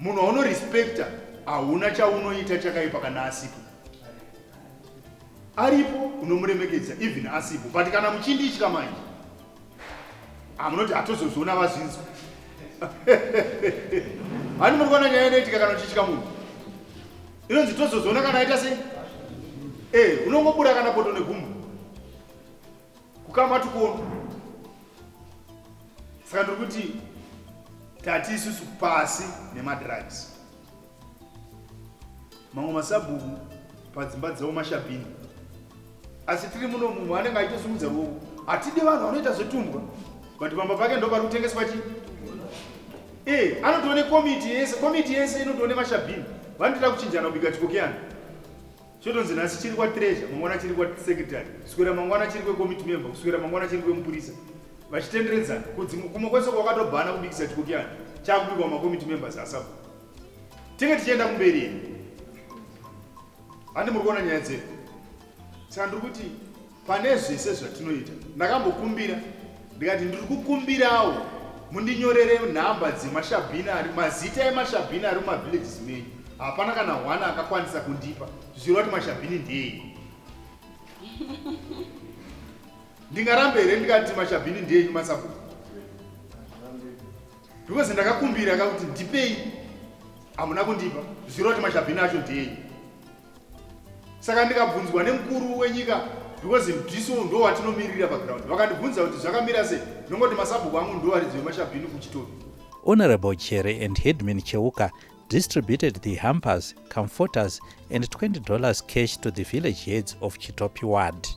munhu waunorespecta hauna chaunoita chakaipa kana asipo aripo unomuremekedza even asipo but kana muchinditya manje amunoti ah, hatozozviona vazvinzwa hani muri kuona nyaya inoitika kana uchitya munhu inonzi tozozviona kana aita sei e eh, unongobura kana poto negumbo kukama tukono saka ndiri kuti tati isusu pasi nemadrugs mamwe masabhuku padzimba dzavo mashabhini asi tiri muno munhu anenge aitosumudza ruoko hatidi vanhu vanoita zvetumbwa but pamba pake ndo pari kutengeswa chii e eh, anotoone komiti yese komiti yese inotoone mashabhini vanotoda kuchinjana kubika chikokeyana chotonzi nhasi chiri kwatreasure mangwana chiri kwasecretary kuswera mangwana chiri kwecommitte member kuswera mangwana chiri kwemupurisa vachitenderedzana kudzi kumwe kwese kwakatobhana kubikisa chikokiyana chakubikwa macommitte members asabu tinge tichienda kumberi handi muri kuona nyaya dzedu saka ndiri kuti Pane zvese zvatinoita ndakambokumbira ndikati ndiri kukumbirawo mundinyorere nhamba dzemashabhini ari mazita emashabhini ari mumavillages menyu hapana kana one akakwanisa kundipa zvichireva kuti mashabhini ndeeiko ndingarambe here ndikati mashabhini ndenyu masabhuku because ndakakumbira ka kuti ndipei hamuna kundipa zvichireva kuti mashabhini acho ndenyu saka ndikabvunzwa nemukuru wenyika because mdso ndo watinomirira paground vakandibvunza kuti zvakamira sei ndongoti masabhuku angu ndo varidzi vemashabhini kuchitobi honorable chere and headman cheuka distributed the hampers comforters and 20 dollars cash to the village heads of chitopi ward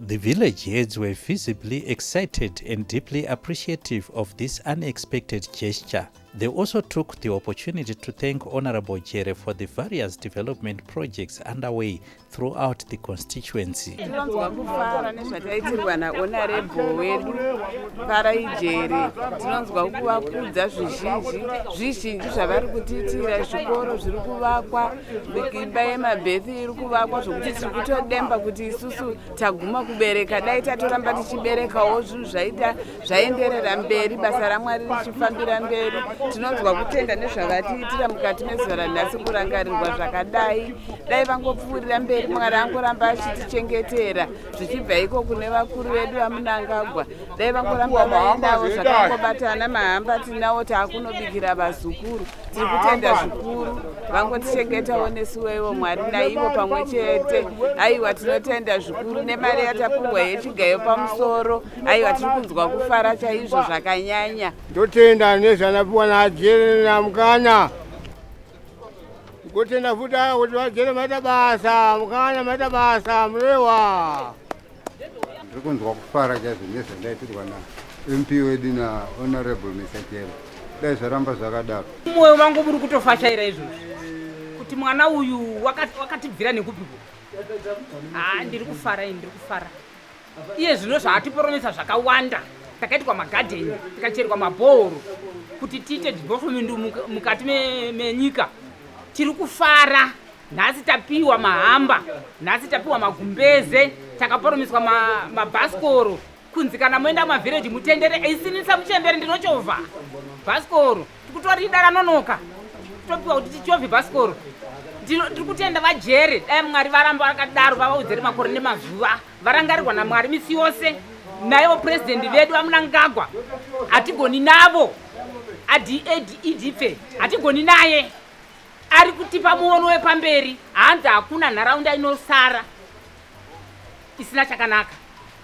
The village heads were visibly excited and deeply appreciative of this unexpected gesture. They also took the opportunity to thank Honorable Jere for the various development projects underway throughout the constituency. Tinonzwa kufara nezvataitirwa naHonorable wedu Farai Jere. Tinonzwa kuvakudza zvizhinji zvizhinji zvavari kutiitira, zvikoro zviri kuvakwa, imba yemabhethi iri kuvakwa zvokuti tiri kutodemba kuti isusu taguma kubereka dai tatoramba tichiberekawo zvinhu zvaita zvaenderera mberi basa ramwari richifambira mberi tinonzwa kutenda nezvavatiitira mukati mezuva ranhasi kurangarirwa zvakadai dai vangopfuurira mberi mwari angoramba achitichengetera zvichibva iko kune vakuru vedu vamunangagwa dai vangoramba vaendawo zvakangobatana mahamba tinawo taakunobikira vazukuru tiri kutenda zvikuru vangotichengetawo nesu wevo mwari naivo pamwe chete aiwa tinotenda zvikuru nemari yatapuhwa yechigayo pamusoro aiwa tiri kunzwa kufara chaizvo zvakanyanya totenda nezvanapiwa naajere namukana kotenda futi aya kuti vajere maita basa mukana maita basa murewa ndiri kunzwa kufara chaizvo nezvandaitirwa namp wedu nahonorable misachero dai zvaramba zvakadaro mwoyo wangu muri kutofashaira izvozvi kuti mwana uyu wakatibvira nekupiko haa ah, ndiri kufara ini ndiri kufara iye zvino zvaatiporomesa zvakawanda takaitwa magadheni tikacherwa mabhooro kuti tiite development mukati menyika tiri kufara Nhasi tapiwa mahamba, nhasi tapiwa magumbeze, takaporomeswa ma- mabhasikoro kunzi kana moenda mavhireji mutendere eisinisa muchembere ndinochovha bhasikoro tikutorida ranonoka topiwa kuti tichovhe bhasikoro Ndino- ndiri kutenda vajere dai mwari varamba vakadaro vavaudzere makore nemazuva varangarirwa namwari misi yose naivo purezidendi vedu vamunangagwa hatigoni navo adadfe hatigoni naye ari kutipa muono wepamberi hanzi hakuna nharaunda inosara isina chakanaka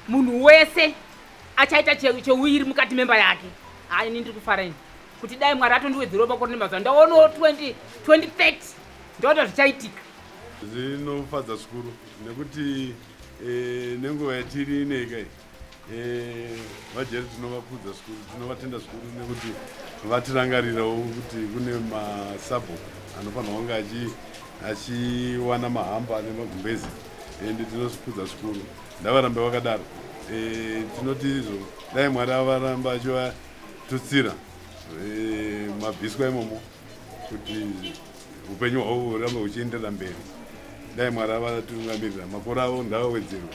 munhu wese achaita cheuiri mukati memba yake ha ini ndiri kufara ini kuti dai mwari atondiwedzerwa makore nemazuva ndaonawo 2030 ndoona zvichaitika zvinofadza zvikuru nekuti eh, nenguva yatiri ineikai Eh, vajeri tinovakudza zvikuru tinovatenda zvikuru nekuti vatirangarirawo kuti kune masabho anofanirwa kunge achiwana mahamba ane magumbezi and tinozvikudza zvikuru ndavarambe vakadaro eh, tinoti izvo dai mwari avaramba achivatutsira eh, mabviswa imomo kuti upenyu hwavo hurambe huchienderera mberi dai mwari avatungamirira makore avo ndavawedzerwe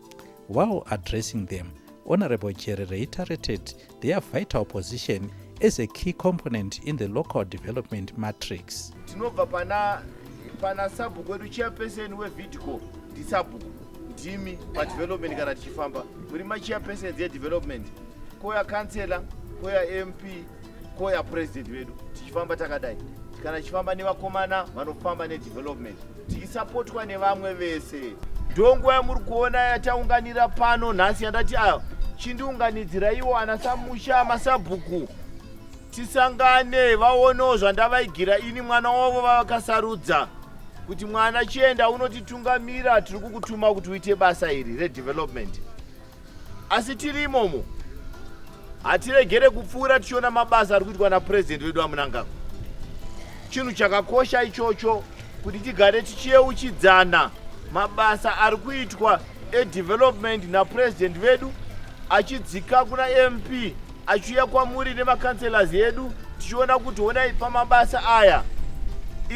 While addressing them, Honorable Jerry reiterated their vital position as a key component in the local development matrix. Tinobva pana pana sabhuku wedu chairperson wevidco ndisabhuku ndimi padevelopment kana tichifamba muri machairpersons yedevelopment koya councellor koya mp koya president vedu tichifamba takadai kana tichifamba nevakomana vanofamba nedevelopment tichisapotwa nevamwe vese ndonguva yamuri kuona yataunganira pano nhasi yandati a ah, chindiunganidziraiwo ana samusha masabhuku tisangane vaonewo zvandavaigira ini mwana wavo vavakasarudza kuti mwana chienda unotitungamira tiri kukutuma kuti uite basa iri redevelopment asi tiri imomo hatiregere kupfuura tichiona mabasa ari kuitwa napurezidendi vedu amunangagwa chinhu chakakosha ichocho kuti tigare tichiyeuchidzana mabasa ari kuitwa edevelopment napurezidendi vedu achidzika kuna mp achiuya kwamuri nemacounselors edu tichiona kuti honai pamabasa aya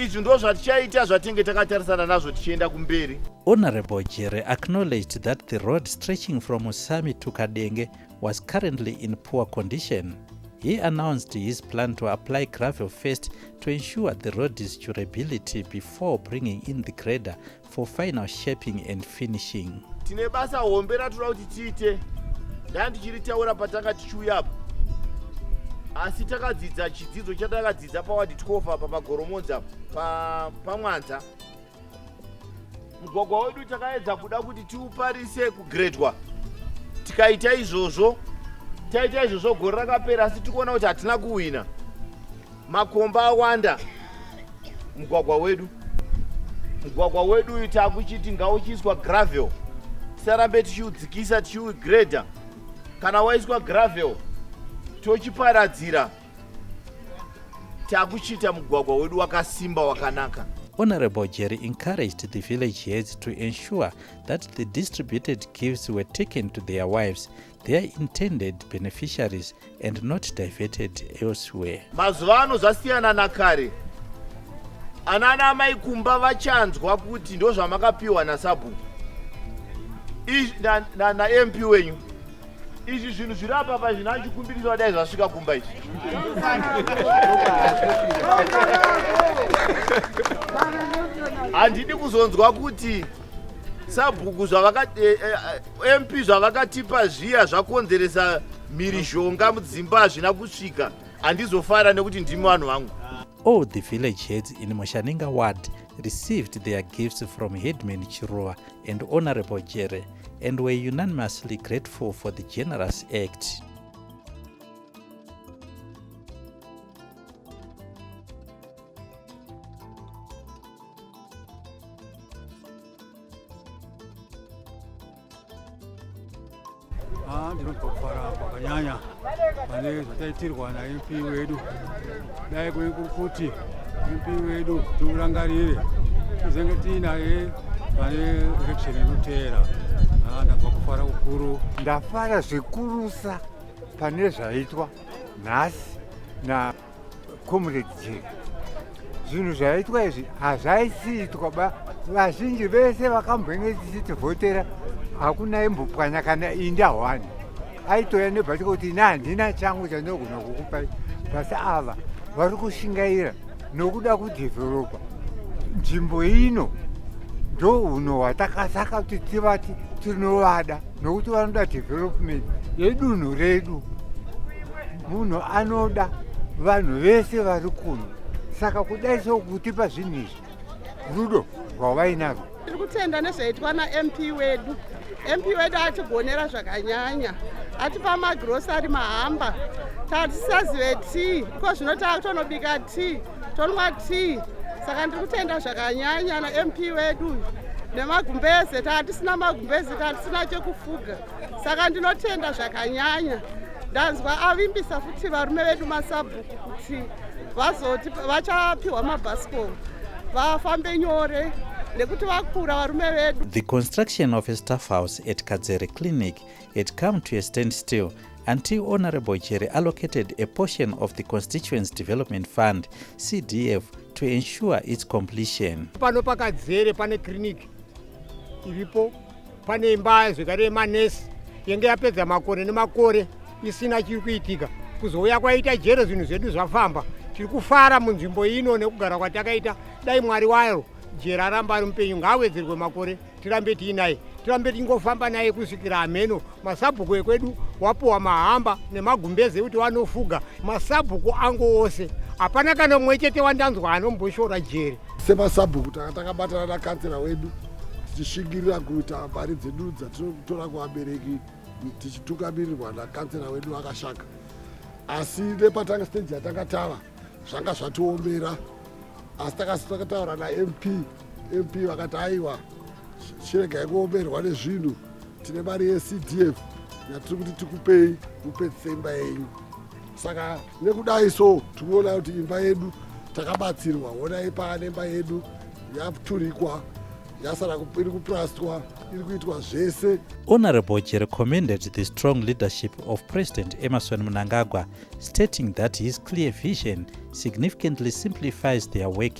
izvi ndo zvatichaita zvatinge takatarisana nazvo tichienda kumberi honorable jere acknowledged that the road stretching from usami to kadenge was currently in poor condition he announced his plan to apply gravel first to ensure the road is durability before bringing in the grader for final shaping and finishing tine basa hombe ratoda kuti tiite ndaa ndichiritaura patanga tichiuya apa asi takadzidza chidzidzo chatakadzidza pawadi 12 apa pagoromonza pamwanza mugwagwa wedu takaedza kuda kuti tiuparise kugredwa tikaita izvozvo taita izvozvo gore rakapera asi tikuona kuti hatina kuhwina makomba awanda mugwagwa wedu mugwagwa wedu uyu takuchiti ngauchiiswa gravel tisarambe tichiudzikisa tichiugreda kana waiswa gravel tochiparadzira takuchiita mugwagwa wedu wakasimba wakanaka Honorable Jerry encouraged the village heads to ensure that the distributed gifts were taken to their wives They are intended beneficiaries and not diverted elsewhere. Mazuva ano zvasiyana nakare. Anana amai kumba vachanzwa kuti ndozvamakapiwa nasabhuku namp na, wenyu izvi zvinhu zviri apa pa zvina chikumbiriso vadai zvasvika kumba izvi handidi kuzonzwa kuti sabhuku zvavakati eh, eh, eh, mp zvavakatipa zviya zvakonzeresa mhirizhonga mudzimba hazvina kusvika handizofara nekuti ndimi vanhu vangu all the village heads in mushaninga ward received their gifts from headman chiruva and honorable jere and were unanimously grateful for the generous act Ah, ndinotofara kwakanyanya pane zvataitirwa naMP wedu dai kuti MP wedu tiurangarire tizenge tiinaye pane election inoteera ah, ndabva kufara kukuru ndafara zvikurusa pane zvaitwa nhasi na comrade je zvinhu zvaitwa izvi hazvaisiitwa ba vazhinji vese vakambenge tichitivhotera hakuna imbopwanya kana inda hwani aitoya nebhatika kuti ini handina changu chandinogona kukupai basi ava vari kushingaira nokuda kudhevheropa nzvimbo ino ndo uno hwatakasaka kuti tivati tinovada nokuti vanoda development yedunhu redu Munhu anoda vanhu vese vari kuno saka kudai sokutipa zvinhu izvi rudo rwavainarwo tiri kutenda nezvaitwa namp wedu mp wedu atigonera zvakanyanya atipa magrosari mahamba tatisazive tea iko zvino taakutonobika tea tonwa tea saka ndiri kutenda zvakanyanya namp wedu nemagumbeze taatisina magumbeze taatisina chekufuga saka ndinotenda zvakanyanya ndanzwa avimbisa futi varume vedu masabhuku kuti vazoti vachapiwa mabhasikoro vafambe nyore nekuti vakura varume vedu the construction of a staff house at kadzere clinic had come to a stand still until honorable chere allocated a portion of the constituents development fund cdf to ensure its completion pano pakadzere pane clinic iripo pane imba zvekare yemanesi yenge yapedza makore nemakore isina chiri kuitika kuzouya kwaita jere zvinhu zvedu zvafamba tiri kufara munzvimbo ino nekugara kwatakaita dai mwari waro jere aramba ari mupenyu ngaawedzerwe makore tirambe tiinaye tirambe tichingofamba naye kusvikira hameno masabhuku ekwedu wapuwa mahamba nemagumbeze ekuti wanofuga masabhuku angu ose hapana kana mumwe chete wandanzwa anomboshora jere Semasabhuku tanga takabatana nakansera wedu tichishingirira kuita mari dzedu dzatinotora kuvabereki tichitungamirirwa nakansera wedu akashaka asi nepatanga stage yatanga tava zvanga zvatiomera asi takasitakautaura namp mp vakati aiwa chirega yekuomerwa nezvinhu tine mari yecdf yatiri kuti tikupei mupedzise imba yenyu saka nekudai so tikuona kuti imba yedu takabatsirwa onai paane imba yedu yaturikwa yasara iri kuprastwa iri kuitwa zvese honorable jere commended the strong leadership of president emerson munangagwa stating that his clear vision significantly simplifies their work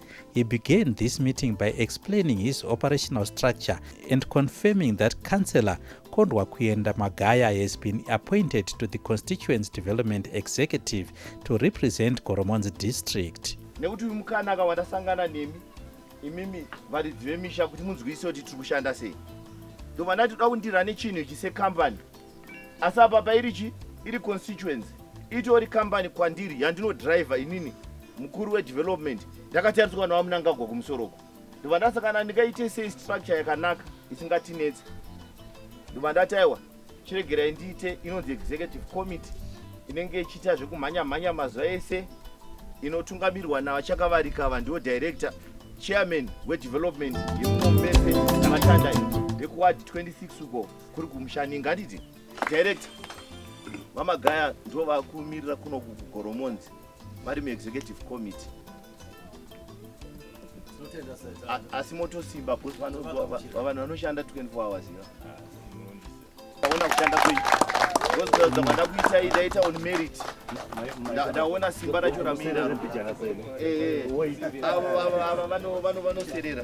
He began this meeting by explaining his operational structure and confirming that Councillor Kondwa Kuyenda Magaya has been appointed to the Constituents Development Executive to represent Goromonzi District. nekuti uyu mukana aka watasangana nemi imimi varidzi vemisha kuti munzwise kuti tiri kushanda sei ndovanati toda kundirane chinhu ichi sekambani asi apa pairi chi iri constituency itori kambani kwandiri yandinodriver inini mukuru wedevelopment ndakatariswa nawamunangagwa kumusoroko ndobva ndasa kana ndingaite sei structure yakanaka isingatinetse ndobva ndati aiwa chiregerai ndiite inonzi executive committee inenge ichiita zvekumhanya mhanya mazuva ese inotungamirwa navachakavarika ava ndiwo director chairman wedevelopment yemumombese matanda vekuwadi 26 uko kuri kumushani ngatiti director vamagaya ndo vakumirira kuno kugoromonzi vari muexecutive committee asi motosimba bcause vanhu vanoshanda 24 hours iva aona kushanda kwenyu ozviratidza manda kuita idaita on merit ndaona simba racho ramuinaro eh, eh. ava vanoserera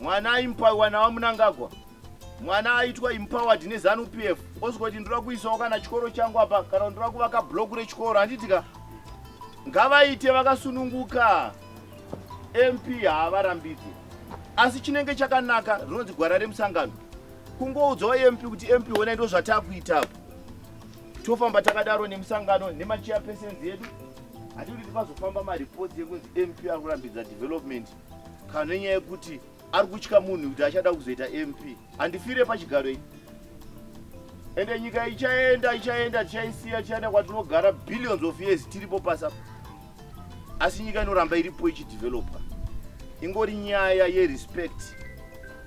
mwana aimpaiwa navamunangagwa mwana aitwa empowered nezanu p f osvika kuti ndoda kuisawo kana chikoro changu apa kana ndoda kuvaka bloku rechikoro handiti ka ngavaite vakasununguka mp haavarambidze asi chinenge chakanaka rinonzi gwara remusangano kungoudzawo mp kuti mp honai ndo zvatakuita apo tofamba takadaro nemusangano nemachiya pesenzi yedu hatikuti tipazofamba mareports ekunzi mp ari kurambidza development kana nenyaya yekuti ari kutya munhu kuti achada kuzoita mp handifire pachigaro ichi ende nyika ichaenda ichaenda tichaisiya tichaenda kwatinogara billions of years tiripo pasa asi nyika inoramba iripo ichidevelopa ingori nyaya yerespect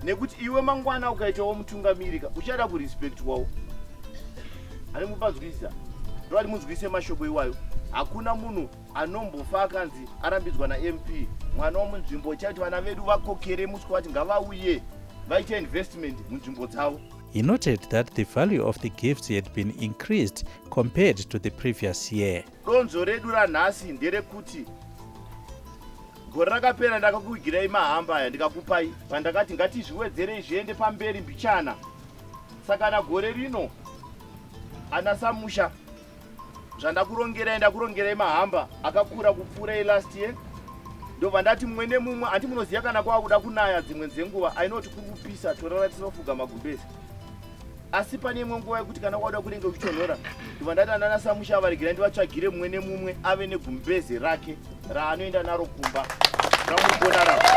nekuti iwe mangwana ukaitawo mutungamirika uchada kurespectwawo ani mupanzwisisa ndovati munzwise mashoko iwayo hakuna munhu anombofa akanzi arambidzwa namp mwana womunzvimbo chaiti vana vedu vakokere muswe vati ngavauye vaite investment munzvimbo dzavo He noted that the value of the gifts had been increased compared to the previous year. Donzo redu ranhasi nderekuti gore rakapera ndakakuigirai mahamba aya ndikakupai pandakati ngatizviwedzerei zviende pamberi mbichana saka na gore rino ana samusha zvandakurongerai ndakurongerai mahamba akakura kupfuura elast year ndobva ndati mumwe nemumwe handi munoziva kana kwava kuda kunaya dzimwe dzenguva ainoti kuri kupisa torara tinofuga magumbezi asi pane imwe nguva yekuti kana kwakuda kunenge kuchonhora ndobva ndati andana samusha avaregerai ndivatsvagire mumwe nemumwe ave negumbezi rake raanoenda naro kumba ramugona ravo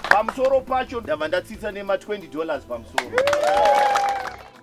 pamusoro pacho ndabva ndatsitsa nema 20 dollars pamusoro yeah.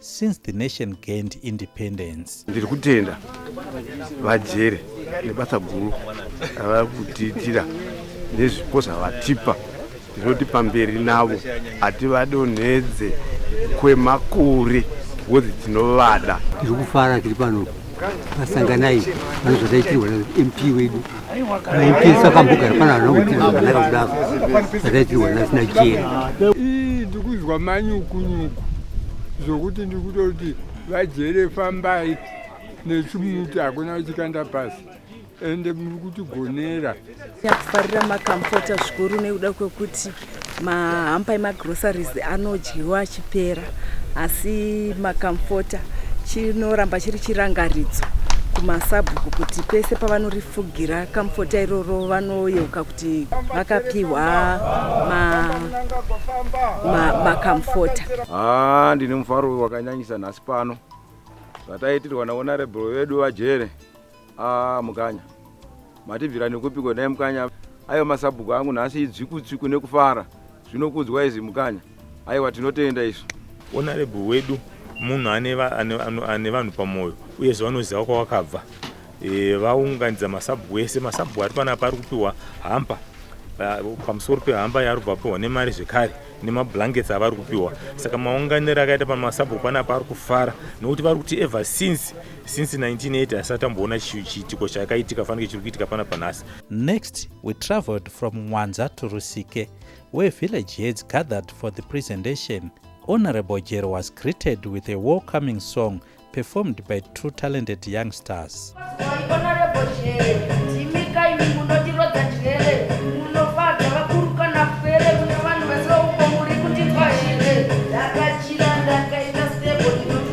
since the nation gained independence. Ndiri kutenda vajere nebasa guru ravari kutiitira nezvipo zvavatipa tinoti pamberi navo hativadonhedze kwemakore bhozi tinovada tiri kufara tiri pano vasanganai vanozvataitirwa mp wedu Naipisa kambuka hapana anokutiza zvakanaka kudaro zvakaitirwa nasina jeri ii ndikuzwa manyukunyuku zvokuti ndikutoti vajere fambai nechimuti hakuna uchikanda pasi ende muri kutigonera nyakufarira makamfota zvikuru nekuda kwekuti mahampa emagroceries anodyiwa achipera asi makamfota chinoramba chiri chirangaridzo kumasabhuku kuti pese pavanorifugira kamfota iroro vanoyeuka kuti vakapiwa makamfota ma, ma haa ah, ndine mufaro wakanyanyisa nhasi pano zvataitirwa naonarable vedu vajere Ah, Mukanya. Matibvira nekupiko naye Mukanya. Ayo masabhuku angu nhasi idzvikutsviku nekufara. Zvinokudzwa izvi Mukanya. Aiwa tinotenda izvi. Honorable wedu munhu ane ane vanhu pamoyo uyezve vanoziva kwawakabva. E, vaunganidza masabhuku ese masabhuku ari panapa ari kupiwa hampa pamusoro pehamba yaari kuvapiwa nemari zvekare nemablankets avari kupiwa saka maunganiro akaita pamasabhuku panapa ari kufara nokuti vari kuti ever since since 1980 asati amboona chiitiko chakaitika fanike chiri kuitika pana panhasi next we traveled from mwanza to rusike where village heads gathered for the presentation honorable jero was greeted with a welcoming song performed by two talented young stars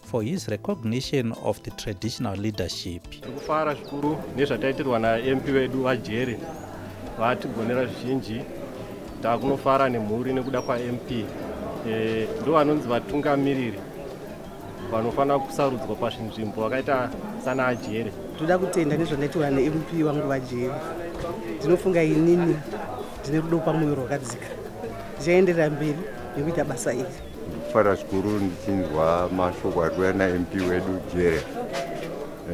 for his recognition of the traditional leadership. Tiri kufara zvikuru nezvataitirwa naMP vedu vaJere vatigonera zvizhinji takunofara nemhuri nekuda kwaMP e, eh, ndo vanonzi vatungamiriri vanofanira kusarudzwa pazvinzvimbo vakaita sana ajere toda kutenda nezvandaitaura nemp vangu vajere ndinofunga inini ndine rudo pamwoyo rwakadzika ndichaenderera mberi nekuita basa iri Fara zvikuru ndichinzwa mashoko ari kuuya naMP wedu Jere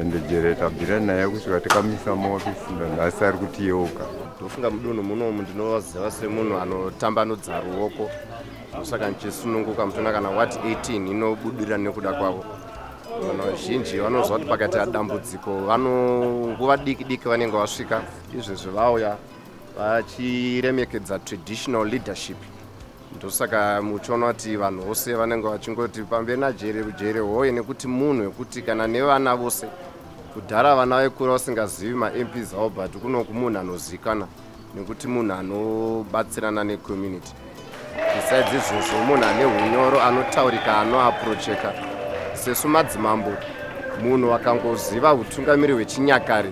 ende Jere tabvira naye kusvika takamisa maofisi nanhasi ari kutiyeuka. Ndofunga mudunhu munomu ndinovaziva semunhu anotambanudza ruoko ndosaka ndichisununguka mutona kana wat 18 inobudira nekuda kwavo vanhu vazhinji vanoziva kuti pakaita dambudziko vanonguva diki diki vanenge vasvika izvezvi vauya vachiremekedza traditional leadership ndosaka muchiona kuti vanhu vose vanenge vachingoti pamberi najere kujere hoye nekuti munhu wekuti kana nevana vose kudhara vana vaikura vasingazivi mamp zavo but kuno kumunhu anozikana nekuti munhu anobatsirana necommunity besides izvozvo munhu ane unyoro anotaurika anoaprocheka sesu madzimambo munhu wakangoziva utungamiri hwechinyakare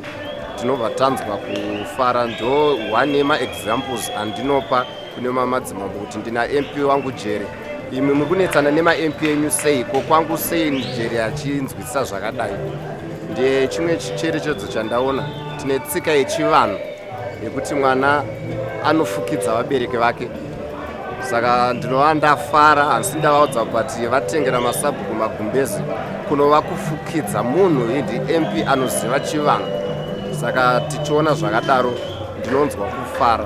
tinobva tanzwa kufara ndo one yemaexamples andinopa kune mamadzimambo kuti ndina mp wangu jere imwe mukunetsana nemamp enyu sei ko kwangu sei mujeri achinzwisisa zvakadai ndiye chimwe chicherechedzo chandaona tine tsika yechivanhu yekuti mwana anofukidza vabereki vake saka ndinova ndafara hansi ndavaudza kuti vatengera masabhuku magumbezi kunova kufukidza munhu idi mp anoziva chivanhu saka tichiona zvakadaro ndinonzwa kufara